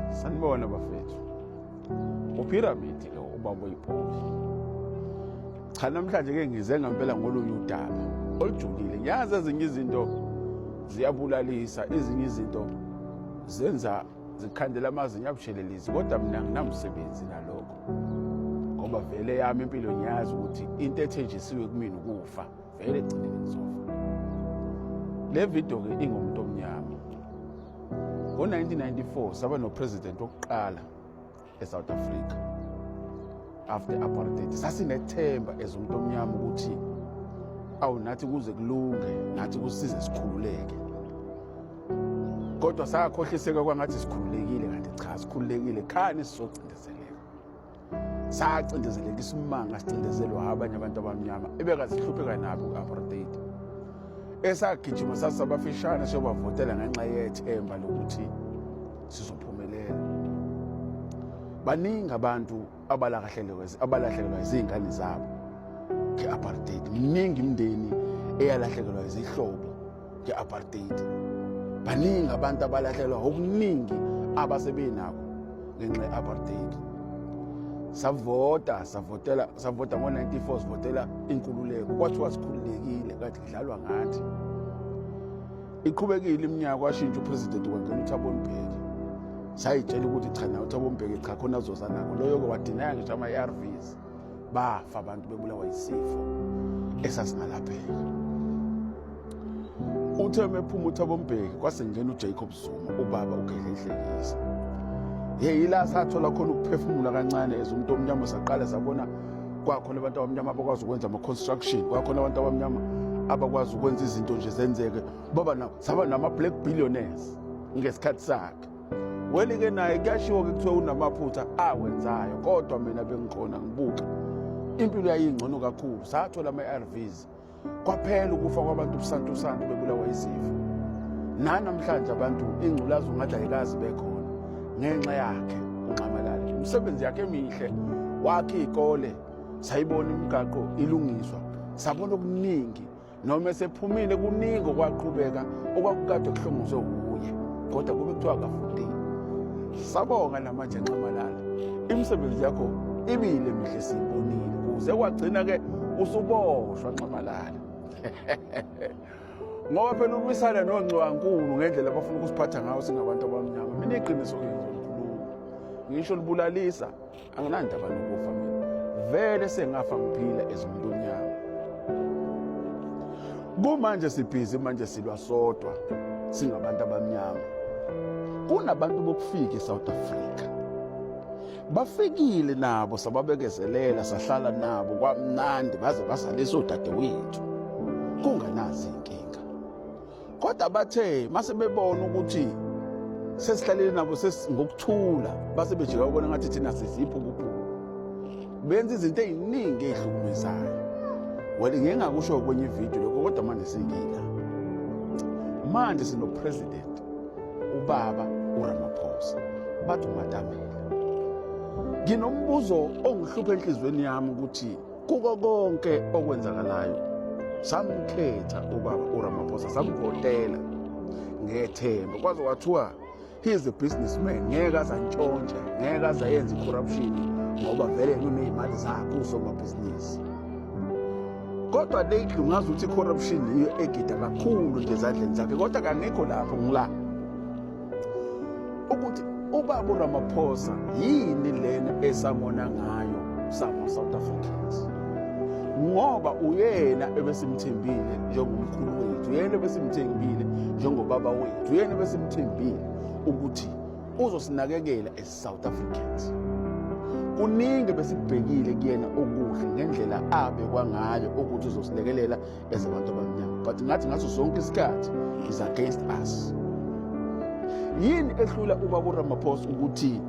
sanibona bafethu uphiramidi lo ubaba oyibholi cha namhlanje ke ngize ngampela ngolunye udaba olujulile ngiyazi ezinye izinto ziyabulalisa ezinye izinto zenza zikhandela amazinyo abushelelisi kodwa mina nginamsebenzi nalokho ngoba vele yami impilo ngiyazi ukuthi into ethenjisiwe kumina ukufa vele egcineni ngizofa le video-ke ingomuntu omnyama Ngo-1994 saba nopresident wokuqala eSouth Africa after apartheid. Sasinethemba as umuntu omnyama ukuthi awu nathi kuze kulunge nathi kusize sikhululeke kodwa sakhohliseka kwangathi sikhululekile kanti cha sikhululekile khani sizocindezeleka sacindezeleka isimanga sicindezelwa abanye abantu abamnyama ebekazihlupheka nabo ku-apartheid esagijima sasabafishane siyobavotela ngenxa yethemba lokuthi sizophumelela baningi abantu abalahlekelwa izingane zabo nge-apartheid miningi imindeni eyalahlekelwa izihlobo nge-apartheid baningi abantu abalahlelwa okuningi abasebenako ngenxa ye-apartheid savota savotela savota ngo-94 sivotela inkululeko kwathiwa sikhululekile kanti kudlalwa ngathi iqhubekile iminyaka washintsha upresident wangena uthabo mbheki sayitshela ukuthi cha na uthabo mbheki cha khona azozanako loyo-ke wadinaya ngisho ama-arvs bafa abantu bebulawa yisifo esasingalapheki uthe uma ephuma uthi abombheki kwasengena ujacob zuma ubaba ugedle inhlekisa ye yila sathola khona ukuphefumula kancane as umuntu omnyama saqale sabona kwakhona abantu abamnyama abakwazi ukwenza ama-construction kwakhona abantu abamnyama abakwazi ukwenza izinto nje zenzeke baba saba nama-black billionaires ngesikhathi sakhe Weli-ke naye kuyashiwo-ke kuthiwa unamaphutha awenzayo kodwa mina bengikhona ngibuka impilo yayingcono kakhulu sathola ama-arvs kwaphela ukufa kwabantu ubusantusantu bebulawa izifo nanamhlanje abantu ingculazi ungathi ayikazi bekhona ngenxa yakhe unxamalale imisebenzi yakhe emihle wakhe iy'kole sayibona imigaqo ilungiswa sabona okuningi noma esephumile kuningi okwaqhubeka okwakukade kuhlongozwe wuye kodwa kube kuthiwa akafundile sabonga namanje nxamalala imisebenzi yakho ibile mihle siyibonile kuze kwagcina-ke usuboshwa nxamalala ngoba phela umisana nongxiwankulu ngendlela abafuna ukusiphatha ngayo singabantu abamnyama mina iqiniso ngizokhuluma ngisho libulalisa anginandaba nokufa mina vele sengafa ngiphila ezimuntu onyama kumanje sibhizi manje silwa sodwa singabantu abamnyama kunabantu bokufika eSouth Africa bafikile nabo sababekezelela sahlala nabo kwamnandi baze basalisa odadewethu kunganazi inkinga kodwa bathe mase bebona ukuthi sesihlalele nabo ngokuthula base bejika ubona ngathi thina siziphi ukuphula benza izinto eziningi ezihlukumezayo well ngeke ngakusho kwenye ividiyo lokho kodwa manje singila manje sinopresident ubaba uramaphosa bathi umatamela nginombuzo ongihlupha enhliziyweni yami ukuthi kuko konke okwenzakalayo samkhetha ubaba uramaphosa samvotela ngethemba kwaze kwathiwa he is a businessman ngeke azantshontshe ngeke azayenza i-corruption ngoba vele kuney'mali zakhe usomabhizinisi kodwa lately ngazi ukuthi i-corruption yiyo egida kakhulu nje ezandleni zakhe kodwa kangekho lapho ngila ukuthi ubaba uRamaphosa yini lena esamona ngayo sama South Africans ngoba uyena ebesimthembile njengomkhulu wethu uyena ebesimthembile njengobaba wethu uyena ebesimthembile ukuthi uzosinakekela as South Africans kuningi besibhekile kuyena okuhle ngendlela abe kwangayo ukuthi uzosilekelela as abantu abamnyama but ngathi ngaso sonke isikhathi is against us yini ehlula ubaba uramaphosa ukuthi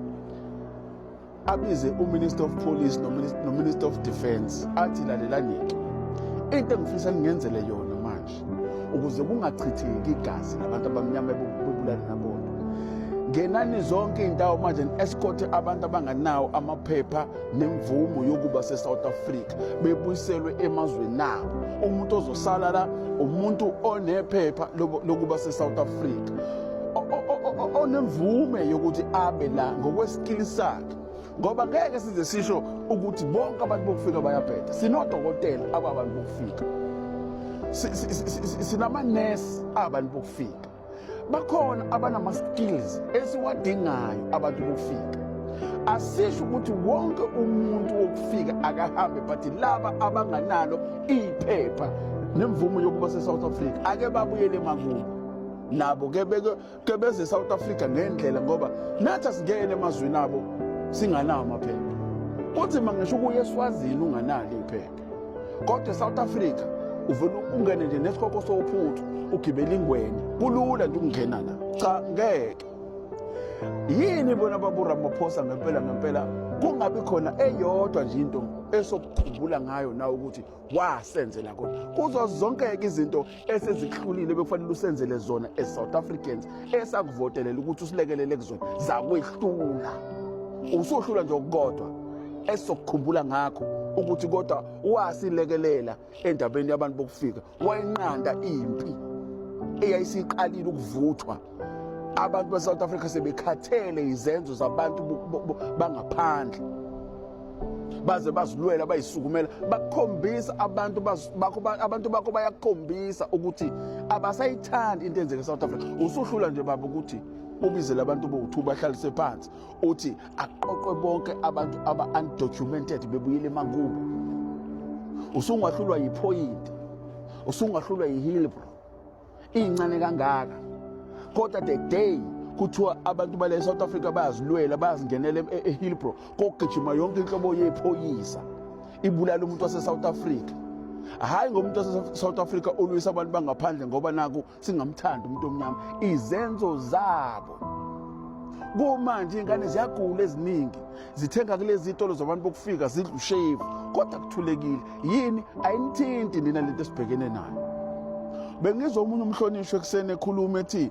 abize uminister of police nominister of defence athi lalelanike into engifisa ngingenzele yona manje ukuze kungachitheki igazi labantu abamnyama ebubulani nabona ngenani zonke iy'ndawo manje ni-escorte abantu abanganawo amaphepha nemvumo yokuba se-south africa bebuyiselwe emazweni abo umuntu ozosala la umuntu onephepha lokuba se-south africa onemvume yokuthi abe la ngokwesikili sakhe ngoba ngeke size sisho ukuthi bonke abantu bokufika bayabheda sinodokotela ababantu bokufika sinamanesi abantu bokufika bakhona abanama-skills esiwadingayo abantu bokufika asisho ukuthi wonke umuntu wokufika akahambe but laba abanganalo iphepha nemvumo yokuba se-south africa ake babuyele emakubo nabo ke beze south africa ngendlela ngoba nathi asingene emazwini abo singanawo amaphepha kuthi mangisho ukuya eswazini unganalo iphepha kodwa esouth africa uvele ungene nje nesikoko sophuthu ugibela ingwenya kulula nje ukungena la cha ngeke yini bona baburamaphosa ngempela ngempela kungabi khona eyodwa nje into esokukhumbula ngayo nawe ukuthi wasenzela kona kuzo zonke-ke izinto esezihlulile bekufanele usenzele zona as south africans esakuvotelela ukuthi usilekelele kuzona zakwehlula usuhlula nje okukodwa esizokukhumbula ngakho ukuthi kodwa wasilekelela endabeni yabantu bokufika wayenqanda impi eyayisiqalile ukuvuthwa abantu basouth africa sebekhathele izenzo zabantu bangaphandle baze bazilwela bayisukumela bakhombisa abantu bakho abantu bakho bayakhombisa ukuthi abasayithandi into enzeke eSouth Africa usuhlula nje baba ukuthi ubizele abantu bowu-2 bahlalise phansi uthi aqoqwe bonke abantu aba-undocumented bebuyele emakubo usungahlulwa yiphoyinti usungahlulwa yihilbro iyincane kangaka kodwa the day kuthiwa abantu bale South Africa bayazilwela bayazingenela e-, e-, eHillbrow kogijima yonke inhlobo yephoyisa ibulala umuntu wase South Africa hayi ngomuntu wase South Africa olwisa abantu bangaphandle ngoba naku singamthanda umuntu omnyama izenzo zabo kumanje ingane ziyagula eziningi zithenga kulezi itolo zabantu bokufika zidla ushevu kodwa kuthulekile yini ayinithinti nina lento esibhekene nayo bengizwa omunye umhlonishwa ekuseni ekhuluma ethi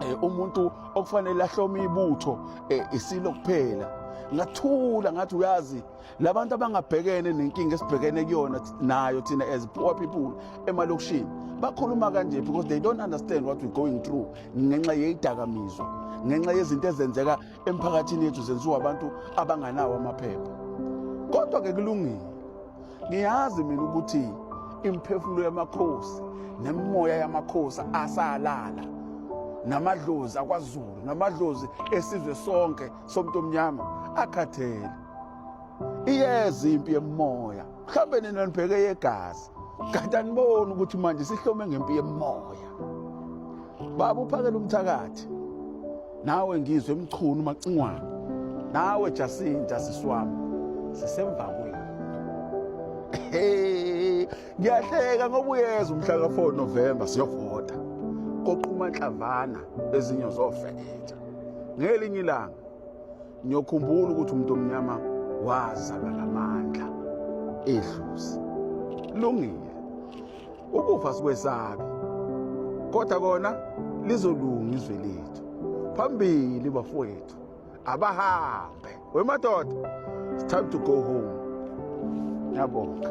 um umuntu okufanele ahlome ibutho um isilo kuphela ngathula ngathi uyazi labantu abangabhekene nenkinga esibhekene kuyona nayo thina as poor people emalokishini bakhuluma kanje because they don't understand what we're going through ngenxa yeyidakamizwa ngenxa yezinto ezenzeka emphakathini yethu zenziwa abantu abanganawo amaphepha kodwa-ke kulungile ngiyazi mina ukuthi imiphefumulo yamakhosi nemimoya yamakhosi asalala namadlozi akwazulu namadlozi esizwe sonke somuntu omnyama akhathele iyeza impi yemoya mhlawumbe nina nibheke yegazi kanti aniboni ukuthi manje sihlome ngempi yemoya baba uphakela umthakathi nawe ngizwe emchunu macingwane nawe jasinta siswami sisemva kwenu ngiyahleka ngoba uyeza umhla ka-4 novemba siyovota koquma nhlavana ezinye zofeketha ngelinye ilanga Ngiyokhumbula ukuthi umuntu omnyama wazalwa namandla edlozi. Lungile. Ukufa sikwesabi. Kodwa kona lizolunga izwe lethu. Phambili bafowethu. Abahambe. Wemadoda. It's time to go home. Ngiyabonga.